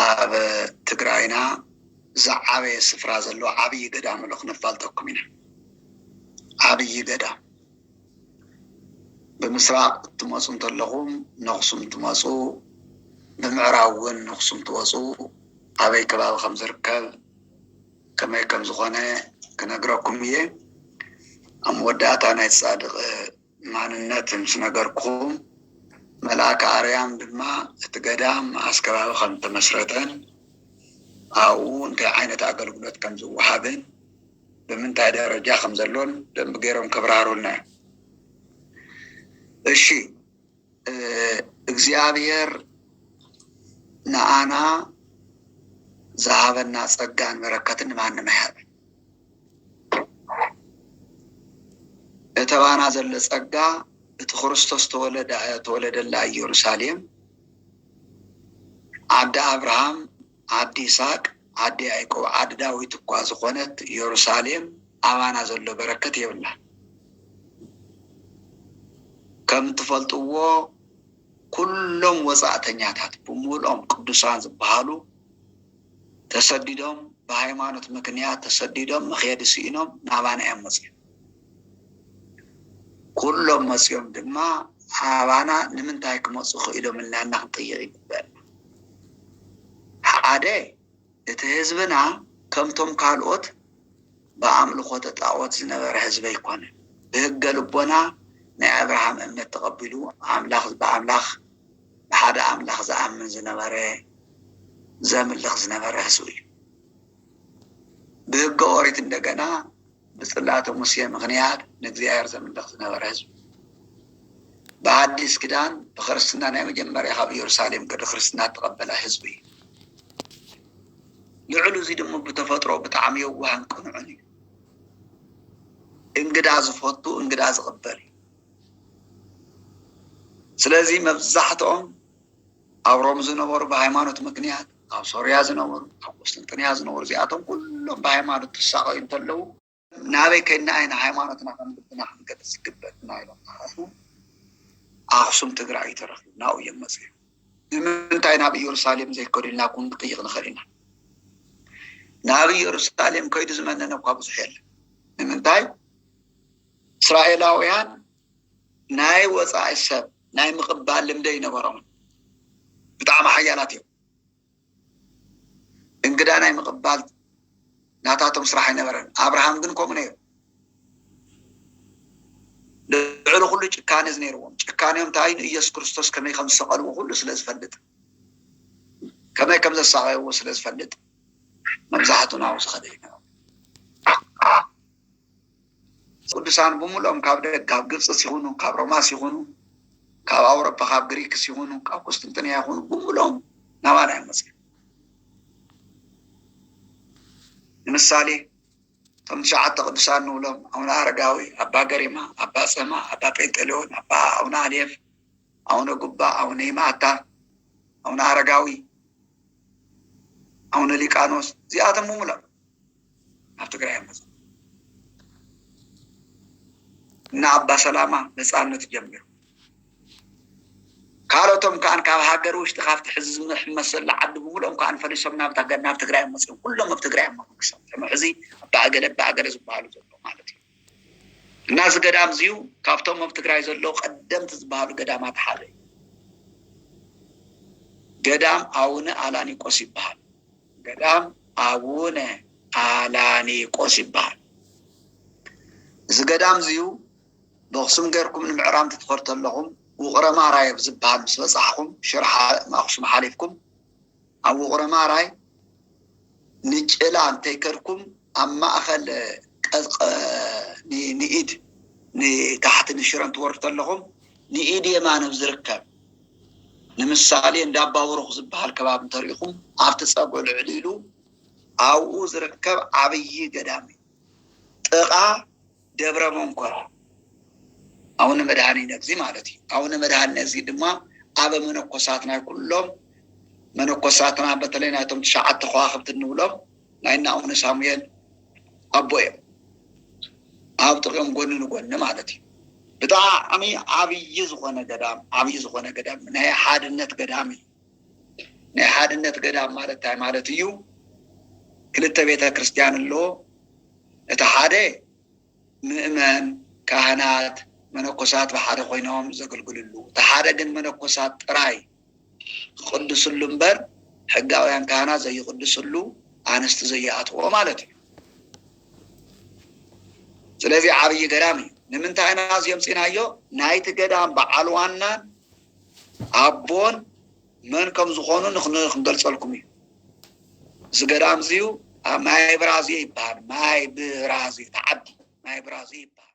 ኣብ ትግራይና ዝዓበየ ስፍራ ዘለዎ ዓብዪ ገዳም ኣሎ ክነፋልጠኩም ኢና። ዓብዪ ገዳም ብምስራቕ እትመፁ እንተለኹም ነኽሱም ትመፁ፣ ብምዕራብ እውን ነኽሱም ትወፁ ኣበይ ከባቢ ከም ዝርከብ ከመይ ከም ዝኾነ ክነግረኩም እየ። ኣብ መወዳእታ ናይ ፃድቕ ማንነት ምስ ነገርኩኹም፣ መልኣከ ኣርያም ድማ እቲ ገዳም ኣስ ከባቢ ከም እተመስረተን ኣብኡ እንታይ ዓይነት ኣገልግሎት ከም ዝወሃብን ብምንታይ ደረጃ ከም ዘሎን ብደንቢ ገይሮም ከብራህሩልና እዮም። እሺ። እግዚኣብሔር ንኣና ዝሃበና ጸጋን በረከትን ንማንም ኣይሃብ እተባና ዘለ ጸጋ እቲ ክርስቶስ ተወለደላ ኢየሩሳሌም ዓዲ ኣብርሃም ዓዲ ይስሃቅ ዓዲ ያእቆብ ዓዲ ዳዊት እኳ ዝኮነት የሩሳሌም ኣባና ዘሎ በረከት የብላን ከም እትፈልጥዎ ኩሎም ወጻእተኛታት ብሙልኦም ቅዱሳን ዝብሃሉ ተሰዲዶም ብሃይማኖት ምክንያት ተሰዲዶም መክየዲ ስኢኖም ናባና እዮም መጽዮም ኩሎም መፅዮም ድማ ኣባና ንምንታይ ክመፁ ክኢሎም ኢልና እና ክንጥይቅ ይግበእና። ሓደ እቲ ህዝብና ከምቶም ካልኦት ብኣምልኮተ ጣኦት ዝነበረ ህዝቢ ኣይኮነን። ብህገ ልቦና ናይ ኣብርሃም እምነት ተቐቢሉ ኣምላኽ ብኣምላኽ ብሓደ ኣምላኽ ዝኣምን ዝነበረ ዘምልኽ ዝነበረ ህዝቢ እዩ። ብህገ ኦሪት እንደገና ብፅላተ ሙሴ ምኽንያት ንእግዚኣብሔር ዘምልኽ ዝነበረ ህዝቢ ብኣዲስ ኪዳን ብክርስትና ናይ መጀመርያ ካብ ኢየሩሳሌም ቅዲ ክርስትና እተቐበለ ህዝቢ እዩ። ልዕሉ እዙይ ድሞ ብተፈጥሮ ብጣዕሚ የዋህን ቅኑዕን እዩ። እንግዳ ዝፈቱ እንግዳ ዝቕበል እዩ። ስለዚ መብዛሕትኦም ኣብ ሮም ዝነበሩ ብሃይማኖት ምክንያት ኣብ ሶርያ ዝነበሩ ኣብ ቁስጥንጥንያ ዝነበሩ እዚኣቶም ኩሎም ብሃይማኖት ክሳቐዩ እንተለዉ ናበይ ከይድና ኢና ሃይማኖትና ከም ልብና ክንገልፅ ዝግበእና ኢሎም ተሓስቡ ኣክሱም ትግራይ እዩ ተረኪቡ ናብኡ እዮም መፅኦም ንምንታይ ናብ ኢየሩሳሌም ዘይከዱ ኢልና ኩን ክጥይቅ ንኽእል ኢና ናብ ኢየሩሳሌም ከይዱ ዝመነነ እኳ ብዙሕ የለን ንምንታይ እስራኤላውያን ናይ ወፃኢ ሰብ ናይ ምቕባል ልምዲ ኣይነበሮምን። ብጣዕሚ ሓያላት እዮም። እንግዳ ናይ ምቕባል ናታቶም ስራሕ ኣይነበረን። ኣብርሃም ግን ከምኡ ነይሩ። ልዕሊ ኩሉ ጭካነ ነይርዎም። ጭካኔኦም እንታይ ንኢየሱስ ክርስቶስ ከመይ ከም ዝሰቐልዎ ኩሉ ስለ ዝፈልጥ ከመይ ከም ዘሳቐይዎ ስለ ዝፈልጥ መብዛሕትኡ ናብኡ ዝኸደ እዩ። ቅዱሳን ብምሉኦም ካብ ደግ ካብ ግብጽስ ይኹኑ ካብ ሮማስ ይኹኑ ካብ ኣውሮፓ ካብ ግሪክስ ይኹኑ ካብ ቁስጥንጥንያ ይኹኑ ብምሉኦም ናባና እዮም መጽ ንምሳሌ እቶም ትሽዓተ ቅዱሳን ንብሎም ኣቡነ ኣረጋዊ፣ ኣባ ገሪማ፣ ኣባ ጸማ፣ ኣባ ጴንጠሌዎን፣ ኣባ ኣቡነ ኣልየፍ፣ ኣቡነ ጉባ፣ ኣቡነ ይማታ፣ ኣቡነ ኣረጋዊ፣ ኣቡነ ሊቃኖስ እዚኣቶም ምሙሎም ናብ ትግራይ እዮም መፅኦም እና ኣባ ሰላማ ነፃነት ጀሚሩ ካልኦቶም ከዓ ካብ ሃገር ውሽጢ ካብቲ ሕዚ ዝመሕመስ ዘሎ ዓዲ ብምሉኦም ከዓ ፈሪሶም ናብ ናብ ትግራይ መፅኦም ኩሎም ኣብ ትግራይ እዮም መንግስቶም ከም ሕዚ ኣባእገለ ኣባእገለ ዝበሃሉ ዘሎ ማለት እዩ እና እዚ ገዳም እዚዩ ካብቶም ኣብ ትግራይ ዘለዉ ቀደምቲ ዝበሃሉ ገዳማት ሓደ እዩ ገዳም ኣውነ ኣላኒቆስ ይበሃል ገዳም ኣቡነ ኣላኒቆስ ይበሃል እዚ ገዳም እዚዩ በክሱም ገርኩም ንምዕራብ ክትኸዱ ተለኹም ውቕረ ማራይ ኣብ ዝበሃል ምስ በጻሕኹም ሽረ ኣክሱም ሓሊፍኩም ኣብ ውቕረ ማራይ ንጭላ እንተይከድኩም ኣብ ማእኸል ንኢድ ንታሕቲ ንሽረ እንትወርዱ ተለኹም ንኢድ የማን ኣብ ዝርከብ ንምሳሌ እንዳባቡሩኽ ዝብሃል ከባቢ እንተሪኢኹም ኣብቲ ፀግዑ ልዕል ኢሉ ኣብኡ ዝርከብ ዓብዪ ገዳም እዩ ጥቓ ደብረ መንኮራ ኣውነ መድኃኒነግዚ ማለት እዩ ኣውነ መድኃኒነግዚ ድማ ኣበ መነኮሳት ናይ ኩሎም መነኮሳትና በተለይ ናይቶም ትሽዓተ ከዋኽብቲ እንብሎም ናይ እና ኣቡነ ሳሙኤል ኣቦ እዮም ኣብ ጥቅኦም ጎኒ ንጎኒ ማለት እዩ። ብጣዕሚ ዓብዪ ዝኾነ ገዳም ዓብዪ ዝኾነ ገዳም ናይ ሓድነት ገዳም እዩ። ናይ ሓድነት ገዳም ማለት እንታይ ማለት እዩ? ክልተ ቤተ ክርስቲያን ኣሎ። እቲ ሓደ ምእመን ካህናት መነኮሳት ብሓደ ኮይኖም ዘገልግልሉ፣ እቲ ሓደ ግን መነኮሳት ጥራይ ክቅድስሉ እምበር ሕጋውያን ካህናት ዘይቅድስሉ ኣንስቲ ዘይኣትውኦ ማለት እዩ ስለዚ ዓብይ ገዳም እዩ ንምንታይ ኢና እዚ ኣምፂናዮ ናይቲ ገዳም በዓል ዋናን ኣቦን መን ከም ዝኾኑ ንክንገልፀልኩም እዩ እዚ ገዳም እዚዩ ማይ ብራዝየ ይበሃል ማይ ብራዝየ ተዓዲ ማይ ብራዝየ ይበሃል